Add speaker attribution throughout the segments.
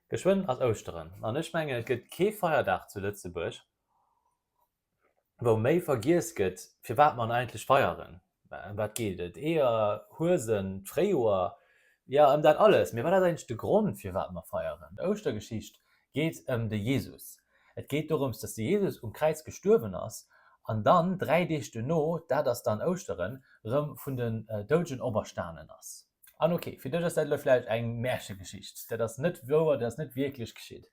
Speaker 1: Geschwënn ass Ouschteren, an ech mengen et gëtt kee Feierdag zu Lëtzebuerg, wou méi vergiess gëtt, firwat mer en eigentlech feieren. Ëm wat geet et? Eeër, Huesen, d'Fréijoer, jo ëm dat alles. Mee wat ass eigentlech de Grond, firwat mer feieren? D'Ouschtergeschicht geet ëm de Jesus. Et geet dorëms, datt de Jesus um Kräiz gestuerwen ass an dann dräi Deeg duerno, dat ass dann Ouschteren, erëm vun den Doudegen operstanen ass. An ok, fir dech ass dat elo vläicht eng Märchegeschicht, dat ass net wouer, dat ass net wierklech geschitt.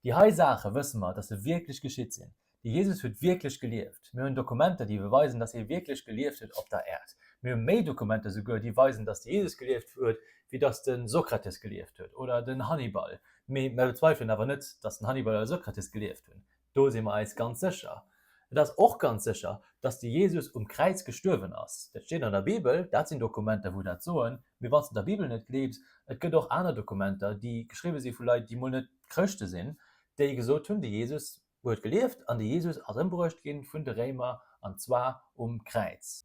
Speaker 1: Déi hei Saache wësse mer, datt se wierklech geschitt sinn. De Jesus huet wierklech gelieft. Mir hunn Dokumenter, déi beweisen, datt hie wierklech gelieft huet op der Äerd. Mir hu méi Dokumenter souguer, déi weisen, datt de Jesus gelieft huet, wéi datt de Sokrates gelieft huet oder den Hannibal. Mee mer bezweifelen awer net, datt den Hannibal oder de Sokrates gelieft hunn. Do si mer eis ganz sécher. Et ass och ganz sécher, datt de Jesus um Kräiz gestuerwen ass. Dat steet an der Bibel, dat sinn Dokumenter, wou dat soen. Mee wann s de der Bibel net gleefs, et gëtt och aner Dokumenter, déi geschriwwe si vu Leit, déi mol net Chrëschte sinn, déi gesot hunn, de Jesus huet gelieft an de Jesus ass ëmbruecht gi vun de Réimer, an zwar um Kräiz.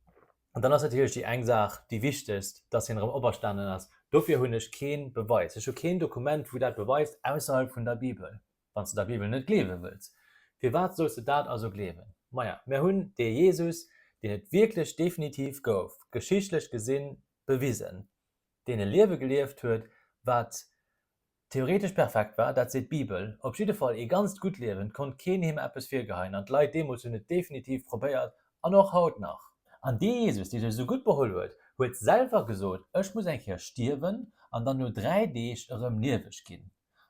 Speaker 1: An dann ass natierlech déi eng Saach déi wichtegst, datt hien erëm operstanen ass. Dofir hunn ech kee Beweis, ech hu keen Dokument, wou dat beweist, ausserhalb vun der Bibel. wann s de der Bibel net gleewe wëlls. Firwat solls de dat also gleewen? Maja, mir hunn dee Jesus, deen et wierklech definitiv gouf, geschichtlech gesi bewisen, deen e Liewe gelieft huet, wat theoretesch perfekt war, dat seet d'Bibel, op jidde Fall ee ganzt gutt Liewen, 't konnt keen him eppes virgeheien an d'Leit deemools hunn et definitiv probéiert an och haut nach. An dee Jesus, dee sech esou gutt beholl huet, huet selwer gesot, Ech muss eng Kéier stierwen an dann no dräi Deeg erëm lieweg ginn.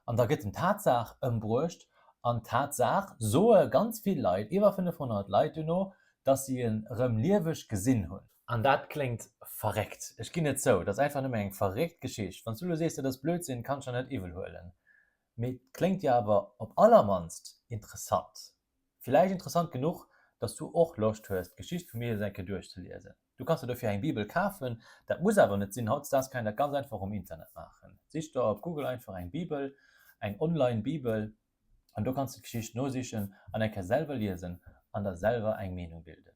Speaker 1: An da gëtt den d'Tatsaach ëmbruecht, an d'Tatsaach soe ganz vill Leit, iwwer 500 Leit duerno, datt si en erëm lieweg gesinn hunn. An dat kléngt verréckt, ech ginn et zou, dat ass einfach nëmme eng verréckt Geschicht. Wann s du elo sees, dat ass Blödsinn, kann ech der net iwwelhuelen, mee et kléngt jo awer op allermannst interessant. Villäicht interessant genuch, dass du och Loscht hues, d'Geschicht vum Jesus eng Kéier duerchzeliesen. Du kanns der dofir eng Bibel kafen. Dat muss awer net sinn, hautdesdaags kann een dat ganz einfach um Internet maachen. Sich der op Google einfach eng Bibel, eng online Bibel, an do kanns de d'Geschicht nosichen an eng Kéier selwer liesen an der selwer eng Meenung bilden.